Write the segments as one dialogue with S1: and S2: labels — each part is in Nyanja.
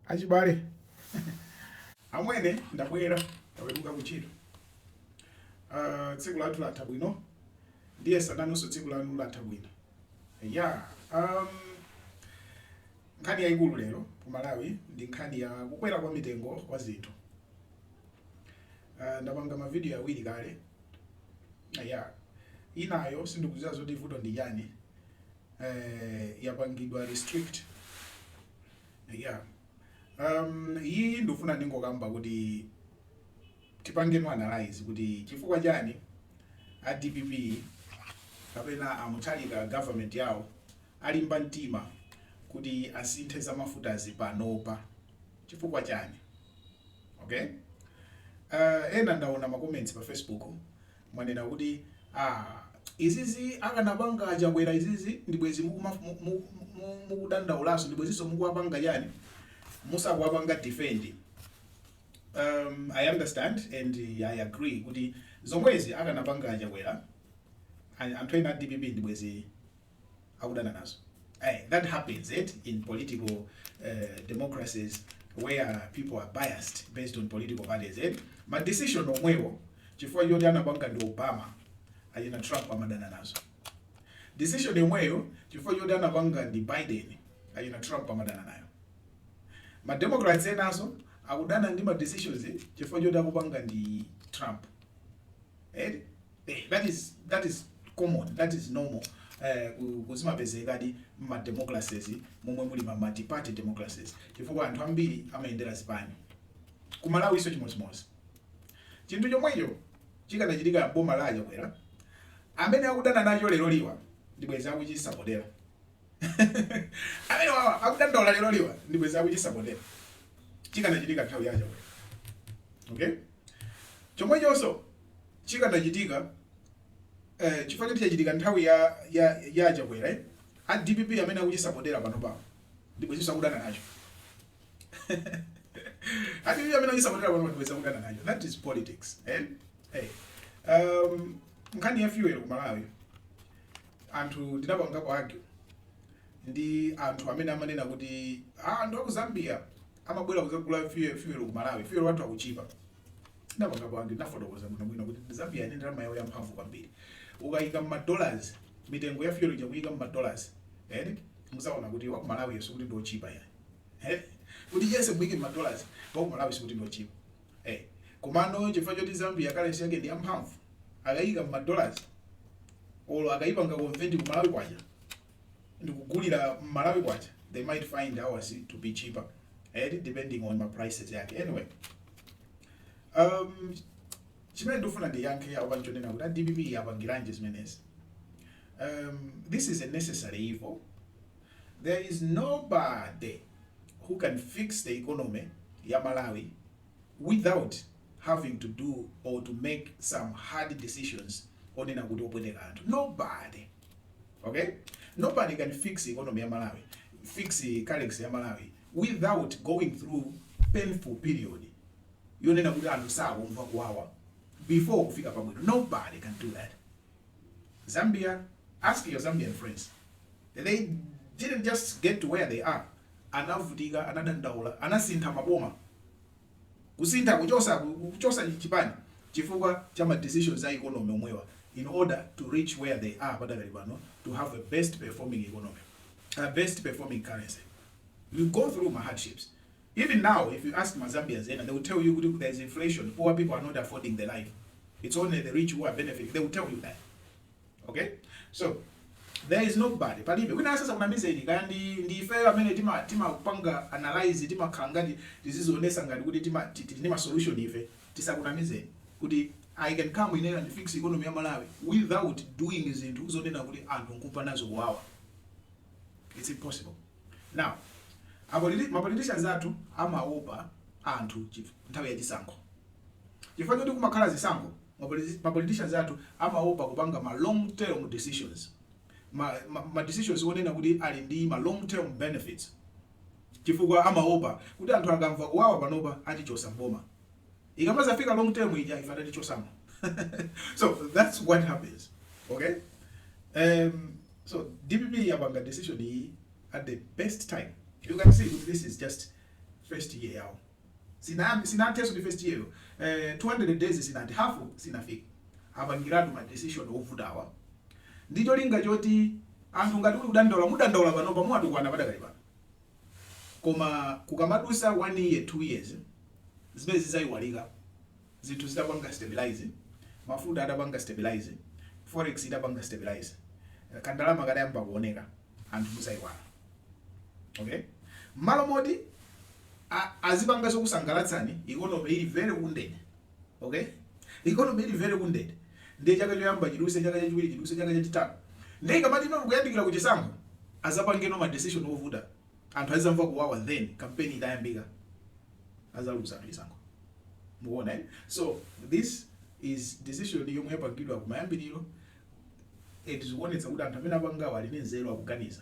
S1: Achibale, amwene ndabwera taweruka ku ntchito. Uh, tsiku lathu latha bwino ndiye sindikudziwa tsiku lanu latha bwino yeah um, nkhani yayikulu lero ku malawi ndi nkhani ya kukwera kwa mitengo kwa zinthu uh, ndapanga mavidiyo awiri kale yeah inayo sindikuziwa zoti vuto ndi chani eh, yapangidwa restrict yeah um iyi ndifuna ndingokamba kuti tipangeno analyze kuti chifukwa chani a dpp kapena a Mutharika government yawo alimba mtima kuti asinthe za mafutazi panopa chifukwa chani okay uh, ena ndaona ma comments pa facebook Mwanena kuti aah izizi akanapanga aChakwera izizi ndibwezi mukudandaulaso ndibweziso mukuwapanga chani musakuwapanga defend um I understand and I agree kuti zomwezi akanapanga aChakwera anthu ena a dpp ndibwezi akudana nazo ayi that happens eti in political uh, democracies where people are biased based on political values eti ma decision omwewo chifukwa choti anapanga ndi obama achina trump amadana nazo decision yomweyo chifukwa choti anapanga ndi biden achina trump amadana nayo ma democrats enaso akudana ndi ma decisions chifukwa choti akupanga ndi trump eti Eh, that is that is common that is normal eh, ku- kuzimapezekadi mma democracies momwe muli ma multiparty democracies chifukwa anthu ambiri amayendera zipani ku malawi ifeso chimodzimodzi chinthu chomwecho chikanachitika boma la achakwera amene akudana nacho leroliwa ndibwezi akuchisapotera amene wawa akudandaula leroliwa ndibwezi akuchisapotera chikanachitika nthawi ya achakwera okay Chomwechonso chikanachitika chifukwa choti chachitika nthawi ya ya ya aChakwera a dpp amene akuchisapotera panopawo ndibwezinso akudana nacho a dpp amene akuchisapotera pano ndibwezi akudana nacho that is politics eh hey um nkhani ya fuel ku Malawi anthu ndinapangapo argue ndi anthu amene amanena kuti ah, anthu aku Zambia amabwera kudzagula fuel fuel ku Malawi fuel wathu akutchipa ndinapangapo argue ndinafotokoza bwino bwino kuti Zambia ili ndi ndalama yawo yamphamvu kwambiri ukayika mma dollars mitengo ya fuel ija kuyika mma dollars eh muzaona kuti wa ku Malawi sikuti ndotchipa ayi eh kuti yese muyike mma dollars wa ku Malawi sikuti ndotchipa eh komano chifukwa choti Zambia currency yake ndi yamphamvu akayika mma dollars olo akayipanga convert ku Malawi kwacha ndikugulira mmalawi kwacha they might find ours to be cheaper eti eh, depending on ma prices yake anyway um chimene ndikufuna ndiyankhe apa nchonena kuti a dpp apangiranje zimenezi um, this is a necessary evil there is nobody who can fix the economy ya malawi without having to do or to make some hard decisions onena kuti opweteka anthu nobody okay nobody can fix economy ya malawi fix currency ya malawi without going through painful period yonena kuti anthu sakumva kuwawa before kufika pabwino nobody can do that Zambia, ask your Zambian friends, they didn't just get to where they are, anavutika, anadandaula, anasintha maboma, kusintha kuchosa chipani chifukwa cha ma decisions a economy omwewa in order to reach where they are padakali pano to have a best performing economy, a best performing currency. You go through ma hardships. Even now if you ask ma Zambians ena they will tell you kuti there is inflation, poor people are not affording the life, its only the rich who are benefiting, they will tell you that okay so there is nobody palibe wina asakunamizeni kaya ndi ndi ifeyo amene tima timapanga analyze timakhala ngati tizizionesa ngati kuti tima tili ndi ma solution ife tisakunamizeni kuti I can come in here and fix economy ya Malawi without doing zinthu zonena kuti anthu nkumva nazo kuwawa it's impossible Now, a politi ma politicians athu amaopa anthu chif nthawi ya chisankho. Chifukwa choti kumakhala zisankho, ma politi ma politicians athu amaopa kupanga ma long term decisions, ma ma ma decisions onena kuti ali ndi ma long term benefits, chifukwa amaopa kuti anthu akamva kuwawa panopa atichosa m'boma. ikamazafika long term ija ife atatichosamo so that's what happens okay um, so dpp yapanga decision iyi at the best time you can see kuti this is just first year yawo sinayambi sinatheso ndi first year eh, 200 days sinati half sinafika apangiratu ma decision ovutawa ndicholinga choti anthu ngati muli kudandaula mudandaule pano muwatukwane padakali pano koma kukamadusa 1 year 2 years zimenezi zaiwalika zinthu zitapanga stabilize mafuta atapanga stabilize forex itapanga stabilize kandalama katayamba kuoneka anthu muzaiwala okay mmalo moti a- azipanga zokusangalatsani ikonomi ili very wounded Ok? Economy ili very wounded. Ndiye chaka choyamba chiduse, chaka chachiwiri chiduse, chaka chachitatu. Ndiye ikamati ino kuyandikira ku chisankho, azapangeno ma decision ovuta. Anthu azamva kuwawa then campaign itayambika. Azaluza chisankho. Mukuona eh? So this is a decision yomwe yapangidwa kumayambiriro and zikuonetsa kuti anthu amene apangawa ali ndi nzeru akuganiza.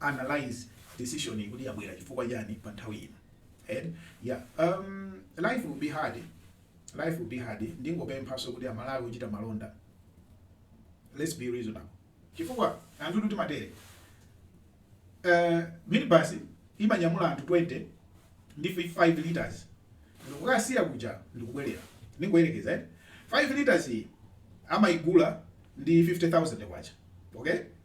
S1: analyse decision iyi kuti yabwera chifukwa chani pa nthawi ino and yeah um, life will be hard life will be hard ndingopemphanso kuti amalawi ochita malonda let's be reasonable chifukwa anthu timatere uh, minibus imanyamula anthu 20 ndi 5 liters ndikukasiya kuja ndikubwerera ndingoyerekeza eh? 5 liters iyi amaigula ndi 50000 kwacha okay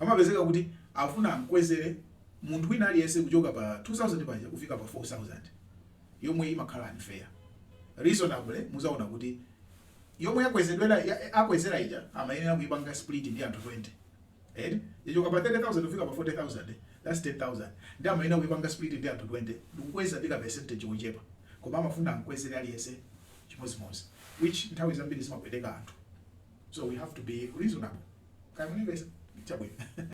S1: Amapezeka kuti akufuna amkwezere munthu wina aliyense kuchoka pa 2000 paja kufika pa 4000 yomwe imakhala unfair. Reasonably muzaona kuti yomwe yakwezedwa akwezera ija amayenera kuipanga split ndi anthu 20 eti. Yachoka pa 30000 kufika pa 40000 that's 10000 nde amayenera kuipanga split ndi anthu 20 ndikukweza ndi ka percentage kochepa koma amafuna amkwezere aliyense. chimodzimodzi which nthawi zambiri zimapweteka anthu so we have to be reasonable kaya mukundimvetsa chabwino.